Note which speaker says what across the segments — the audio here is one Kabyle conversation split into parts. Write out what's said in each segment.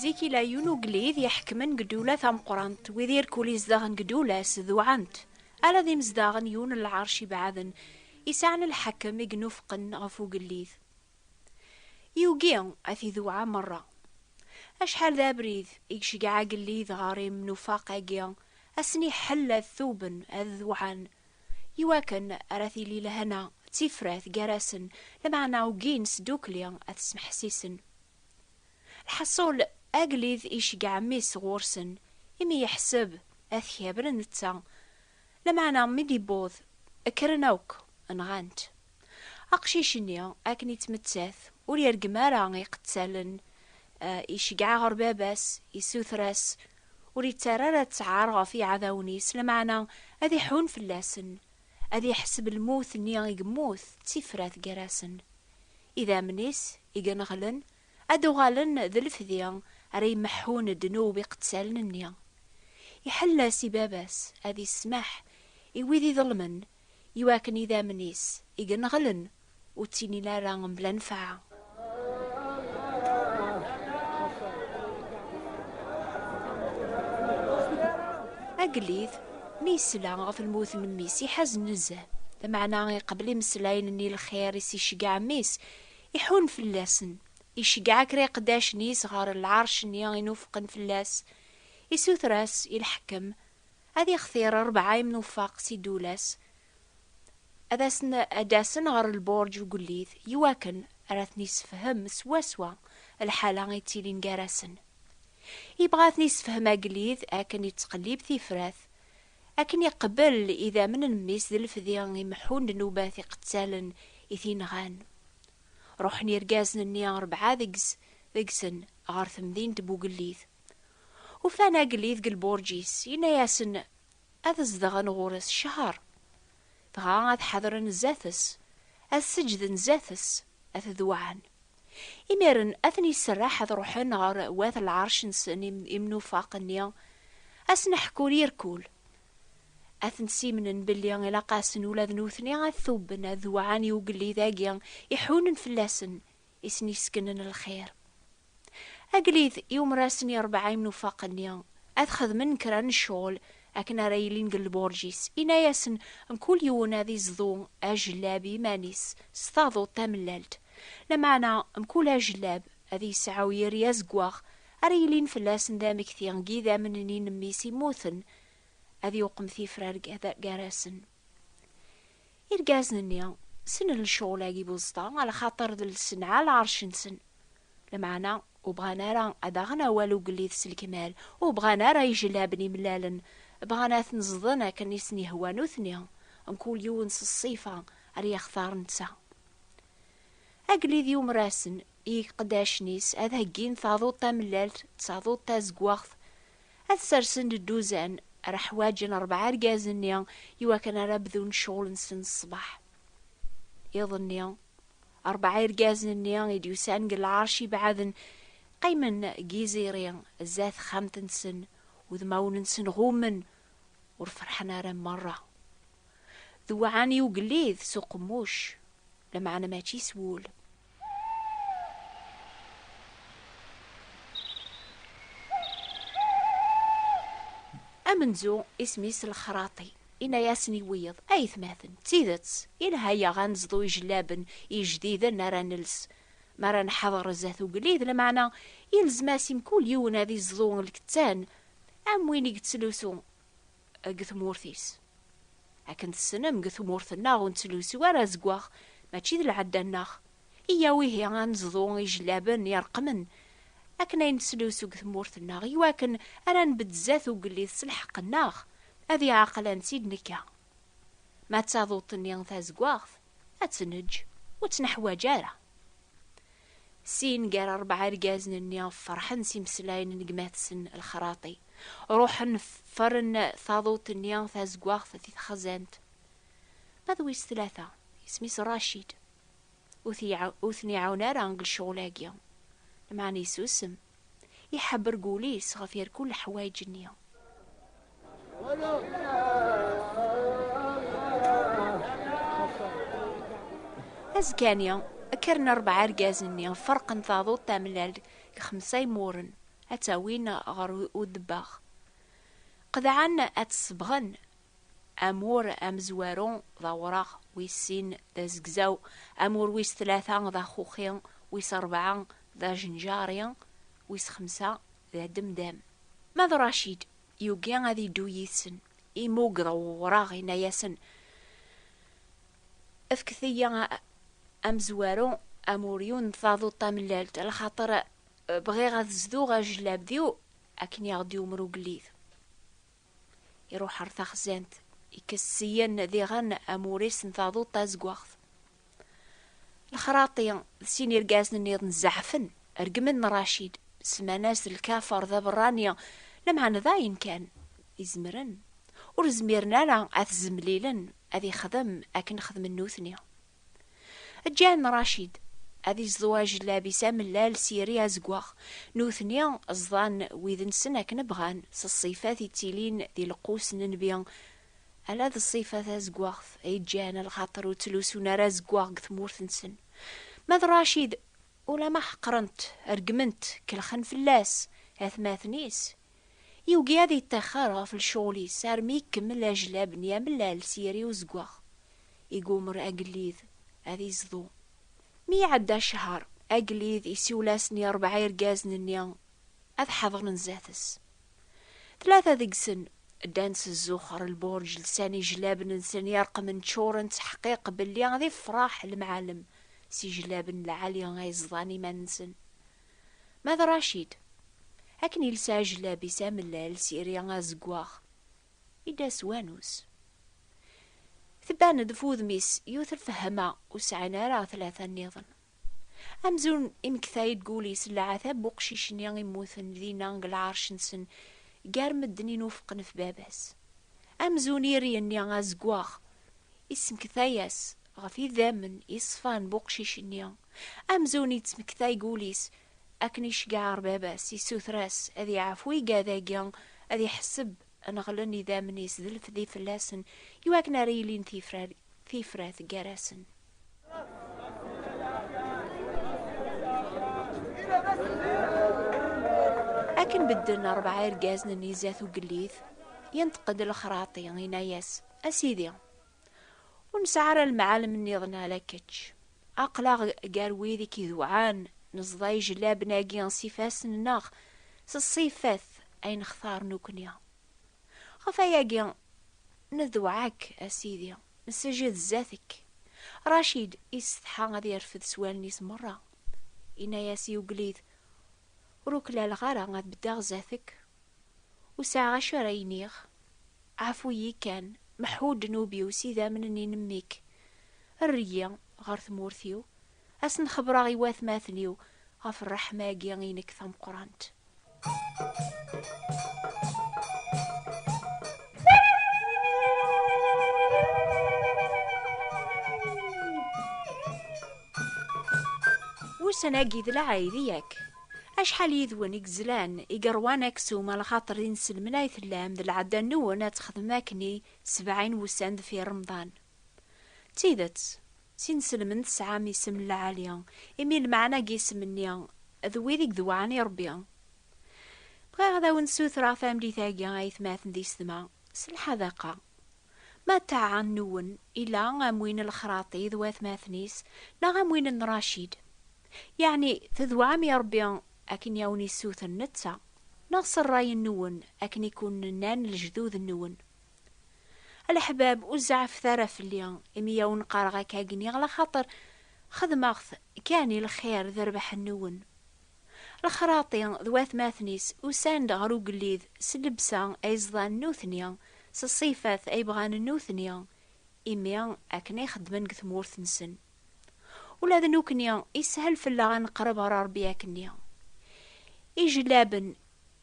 Speaker 1: Zik i la yun ugellid iḥekmen deg ddula tameqqrant, wid irkul izdaɣen deg ddula-s d uɛant, ala d imezdaɣen yun n lɛerc ibeɛden i sɛan lḥekem i inufqen ɣef ugellid. Yugi ad t-idewɛa merra. Acḥal d abrid i iceggeɛ agellid ɣer imnufaq-agi, ad sen-iḥell ad tuben, ad dewɛan, i wakken ara tili lehna d tifrat gar-asen, lameɛna ugin s ddukkli ad t-smeḥsisen. Lḥaṣul, Agellid icegg ɛemmi-s ɣur-sen, imi yeḥseb ad t-kebren netta. Lameɛna mi d-iwweḍ, kkren akk, nɣan-t. Aqcic-nni, akken yettmettat, ur yergem ara iqettalen, iceggeɛ ɣer baba-s, issuter-as, ur yettarra ara ttɛar ɣef yiɛdawen-is, lameɛna ad iḥunn fell-asen. ad iḥseb lmut-nni i yemmut d tifrat gar-asen. Idammen-is i ineɣlen ad d-uɣalen d lefdi ara imeḥḥun ddnub iqettalen-nni. Iḥella-s i baba-s ad ismaḥ i wid iḍelmen i wakken idammen-is i ineɣlen ur ttinin ara mebla nnfeɛ. Agellid, mi yesla ɣef lmut n mmi-s, iḥazen nezzeh. Lameɛna iqebbel imeslayen n lxir i s-iceggeɛ mmi-s, iḥunn fell-asen. Iceggeɛ kra iqeddacen-is ɣer lɛerc-nni i nufqen fell-as. Isuter-as i lḥekkem ad ixtir rebɛa imnufaq si ddula-s, ad asen ad d-asen ɣer lburǧ ugellit i wakken ar a ten-isefhem swaswa lḥala i ttilin gar-asen. Ibɣa a ten-isefhem agellid akken ittqellib tifrat, akken iqbel idammen n mmi-s d lefdi imeḥḥun ddnubat iqettalen i t-inɣan. Ruḥen irgazen-nni rebɛa deg-s deg-sen ɣer temdint n ugellit. Ufan agellid deg lburǧ-is, yenna-asen ad zedɣen ɣur-s ccher, dɣa ad ḥedren zdat-s, ad seǧǧden zdat-s, ad t-dewɛen. Imiren ad ten-iserreḥ ad ruḥen ɣer wat lɛerc-nsen imnufaq-nni, ad sen-ḥkun yir kul. Ad ten-ssimnen belli ilaq-asen ula d nutni ad t-tubben, ad dewɛen i ugellid-agi iḥunen fell-asen, i sen-yesseknen lxir. Agellid yumer-asen i rebɛa imnufaq-nni ad xedmen kra n ccɣel akken ara yilin deg lburǧ-is, yenna-asen mkul yiwen ad iẓḍu ajellab i yiman-is s taduḍt tamellalt, lameɛna mkul ajellab ad yesɛu yir i azeggaɣ ara yilin fell-asen d amekti n yidammen n yinemmis immuten, ad iwqem tifrar gar-asen. Irgazen-nni snen lecɣel-agi buẓeṭa, alaxaṭer d lsenɛa lɛerc-nsen. Lmeɛna, ur bɣan ara ad aɣen awal ugellid s lekmal, ur bɣan ara ijellaben imellalen, bɣan ad ten-ẓḍen akken i sen-yehwa nutni, mkul yiwen s ṣṣifa ar yextar netta. Agellid yumer-asen, i yiqeddacen-is, ad heggin taḍuṭ tamellalt d taḍuṭ tazeggaɣt, ad ssersen-d dduzan, ara ḥwaǧen rebɛa rrgaz-nni i wakken ara bdun ccɣel-nsen ṣṣbeḥ. Iḍ-nni, rebɛa irgazen-nni i d-yusan deg lɛerc ibeɛden, qqimen deg yiẓiri zdat texxamt-nsen, udmawen-nsen ɣummen, ur ferḥen ara merra. Dewɛen i ugellid s uqemmuc, lameɛna mačči s wul. amenzu isem-is lexraṭi inayasen i wiyeḍ ayetmaten d tidet ilha-yaɣ ad neẓḍu ijellaben ijdiden ara nels mi ara nḥader zdat ugellid lmeɛna yelzem-as i mkul yiwen ad iẓḍu lkettan am win i yettlusu deg tmurt-is. Akken tessnem, deg tmurt-nneɣ ur nettlusu ara azeggaɣ, mačči d lɛadda-nneɣ. Iyyaw ihi ad neẓḍu ijellaben ireqqmen akken ay nettlusu deg tmurt-nneɣ, i wakken ara nbedd zdat ugellid s lḥeqq-nneɣ, ad iɛaqel ad nettid nekka. Ma d taduḍt-nni tazeggaɣt, ad tneǧǧ ur tt-neḥwaǧ ara. Sin gar rebɛa irgazen-nni ferḥen s imeslayen n gma-tsen Lexraṭi. Ruḥen ffren taḍuṭ-nni tazeggaɣt di texzant. Ma d wis tlata, isem-is Racid, ur t-iɛawen ara deg lecɣal-agi, lameɛna yessusem. Iḥebreg ul-is ɣef yerkul leḥwayeǧ-nni. Azekka-nni, kkren rebɛa irgazen-nni, ferqen taḍuṭ tamellalt deg xemsa imuren, ad tt-awin ɣer udebbaɣ. Qedɛen ad tt-sebɣen. Amur amezwaru d awraɣ, wis sin d azegzaw, amur wis tlata d axuxi, wis rebɛa d ajenjari, wis xemsa d ademdam. Ma d Racid yugi ad yeddu yid-sen, imuggeḍ wewraɣ, yenna-yasen, Fket-iyi amezwaru, amuryu n taduṭ tamellalt, lxaṭer bɣiɣ ad zduɣ ajellabdiw akken i ɣ-d-yumer ugellid. Iruḥ ɣer taxzant, ikkes ssyen diɣen amuris n taduṭ tazeggaɣt. Lexraṭi d sin irgazen-nniḍen zeɛfen, regmen Racid, semman-as lkafer d aberrani, lameɛna d ayen kan izemren, ur zmiren ara ad t-zemlilen ad ixdem akken xedmen nutni. Ǧǧan Racid ad iẓḍu ajellab-is amellal s yiri azeggaɣ, nutni ẓḍan wid-nsen akken bɣan, s ṣṣifat yettilin di lqus n nnbi, ala d ṣṣifa tazeggaɣt ay ǧǧan lxaṭer ur ttlusun ara azeggaɣ deg tmurt-nsen. Ma d Racid, ulamma ḥeqren-t, reggmen-t, kellxen fell-as, atmaten-is, Yugi ad yeṭṭixxer ɣef lecɣel-is armi ikemmel ajlab n yamellal s yiri uzeggaɣ. Igummer agellid ad yezḍu. Mi iɛedda ccher, agellid isiwel-asen i rebɛa irgazen-nni ad ḥadren zdat-s. Tlata deg-sen ddan s zzux ɣer lbuṛǧ, lsan ijlaben-nsen ireqmen ččuren ţḥeqqiq belli ad iffṛeḥ lemɛalem s ijlaben lɛali ay ẓḍan iman-nsen. Ma d Racid, akken iles aɛejlab-is amellal s iri azeggaɣ, i d-as wanus. Tban-d ɣef wudem-is yuter fehma ur sɛin ara tlata nniḍen. Amzun imektay-d deg wul-is leɛtab n uqcic-nni immuten dinna deg lɛerc-nsen gar medden i nufqen ɣef baba-s. Amzun iri-nni azeggaɣ Yesmektay-as ɣef idammen yeṣfan n uqcic-nni, amzun yettmektay deg wul-is akken iceggeɛ ɣer baba-s, yessuter-as ad yeɛfu igad-agi, ad iḥesseb n ɣlen idammen-is d lefdi fell-asen, i wakken ara ilin tifrat gar-asen. Akken bedden rebɛa irgazen-nni zdat ugellit, yenṭeq-d Lexraṭi, yenna-as. A Sidi, ur nesɛi ara lemɛalem nniḍen ala kečč. Aql-aɣ gar wid i k-iduɛan, neẓḍa ijlaben-agi s ifassen-nneɣ, s ṣṣifat ay nextar nekkni. Ɣef wayagi, neduɛa-k, a Sidi, nessejhed sdat-k. Racid yessetḥa ad yerfed s wallen-is merra. Yenna-as i ugellid, Ur uklaleɣ ara ad beddeɣ sdat-k. Ur sɛiɣ acu ara iniɣ. Ɛfu-yi kan, meḥḥu ddnub-iw s idammen-nni n mmi-k. Err-iyi ɣer tmurt-iw, ad sen-xebreɣ i watmaten-iw ɣef rreḥma-agi i nekk tameqqrant. Ussan-agi d lɛid, yak? Acḥal yid-wen i yezlan, i yeṛwan aksum a lxaṭer inselmen ay tellam d lɛadda-nwen ad texdem akken i sebɛa n wussan deffir Remḍan? D tidet, s inselmen tesɛam isem n lɛali, imi lmeɛna n yisem-nni d wid i yedewɛen i Ṛebbi. Bɣiɣ ad awen-ssutreɣ tamlit-agi, aytmaten d isetma, s lḥadaqa. Ma ttaɛa-nwen ila am win n Lexraṭi d watmaten-is neɣ am win n Racid, Yeɛni, tedweɛam i Ṛebbi akken i awen-yessewten netta, neɣ s ṛṛay-nwen akken i ken-nnan lejdud-nwen? A leḥbab, ur zeɛɛfet ara fell-i imi i awen-qqareɣ akka akken i ɣlaxaṭer xedmeɣ-t kan i lxir d rrbeḥ-nwen. Lexraṭ-i d watmaten-is usan-d ɣer ugellid s llebsa ay ẓḍan nutni, s ṣṣifat ay bɣan nutni, imi akken ay xeddmen deg tmurt-nsen. Ula d nukni ishel fell-aɣ ad neqreb ɣer Ṛebbi akkenni. Ijlaben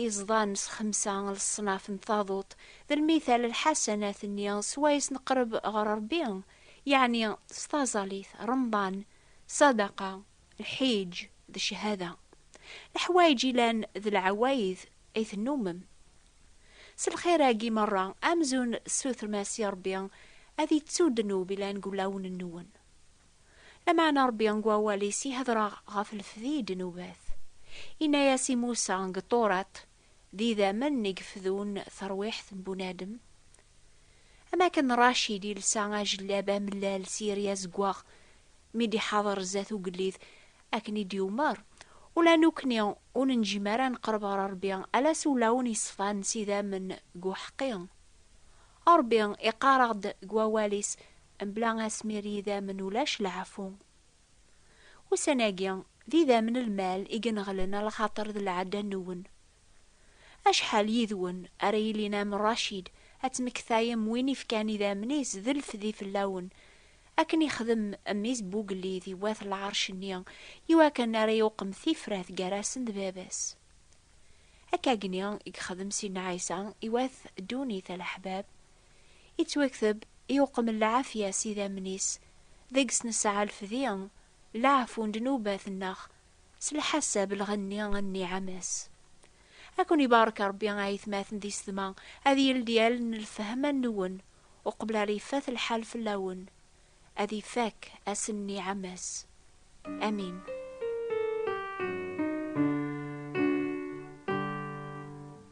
Speaker 1: iẓḍan s xemsa n leṣnaf n taḍuṭ d lmital lḥasanat-nni swayes neqreb ɣer Ṛebbi, yeɛni s taẓalit, Remḍan, ṣṣadaqa, lḥiǧ d cchada. Leḥwayeǧ ilan d lɛawayed i tennummem. S lxir-agi merra, amzun tessutrem-as i Ṛebbi ad ittu ddnub ilan deg wulawen-nwen. Lameɛna Ṛebbi deg wawal-is ihedṛa ɣef lefdi i ddnubat. Inna-yas i Musa deg Ṭuṛat, D idammen i yefdun taṛwiḥt n bunadem? Am akken Racid yelsa ajellab amellal s yiri azeggaɣ mi d-iḥaḍer zdat ugellid, Akken i d-yumer, Ula nukni ur nenǧim ara ad neqreb ɣer Rebbi ala s ulawen yeṣfan s idammen deg uḥeqqi. Rebbi iqqar-aɣ-d deg wawal-is, Mebla asmir n yidammen ulac leɛfu. Ussan-agi, d idammen n lmal i ineɣlen a lxaṭer d lɛada-nwen. Acḥal yid-wen ara yilin am Racid, ad tmektayem win ifkan idammen-is d lfdi fell-awen, akken ixdem mmi-s Bugellid i wat lɛerc-nni, iwakken ara iwqem tifrat gar-asen d baba-s. Akkagni i yexdem Sidna Ɛisa i wat ddunit a leḥbab, ittwekteb iwqem lɛafya s idammen-is, deg-s nesɛa lfdi, leɛfu n ddnubat-nneɣ S lḥasab lɣenni a nniɛam-as. A ken-ibarek Rebbi a aytmaten di sedma, ad yeldi allen n lfehm a nwen, uqbel ara ifat lḥal fell-awen, ad ifak ass n nniɛam-as. Amin.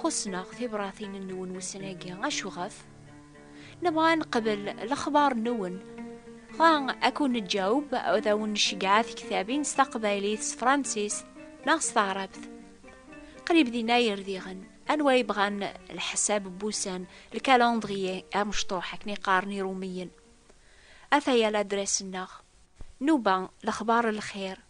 Speaker 1: Xussen-aɣ tibratin-nwen wussan-agi, acuɣef? Nebɣa ad neqbel lexbar-nwen. Dɣa ad kun-neǧaweb, ad awen-nceggeɛ tiktabin s taqbaylit, s tefransist neɣ s taɛrabt. Qrib din ay rdiɣen. Anwa ay bɣan lḥesab n wussan, le calendrier, amecṭuḥ, akken ay qqaren Iṛumiyen? Ataya ladras-nneɣ. Nuba, lexbar n lxir.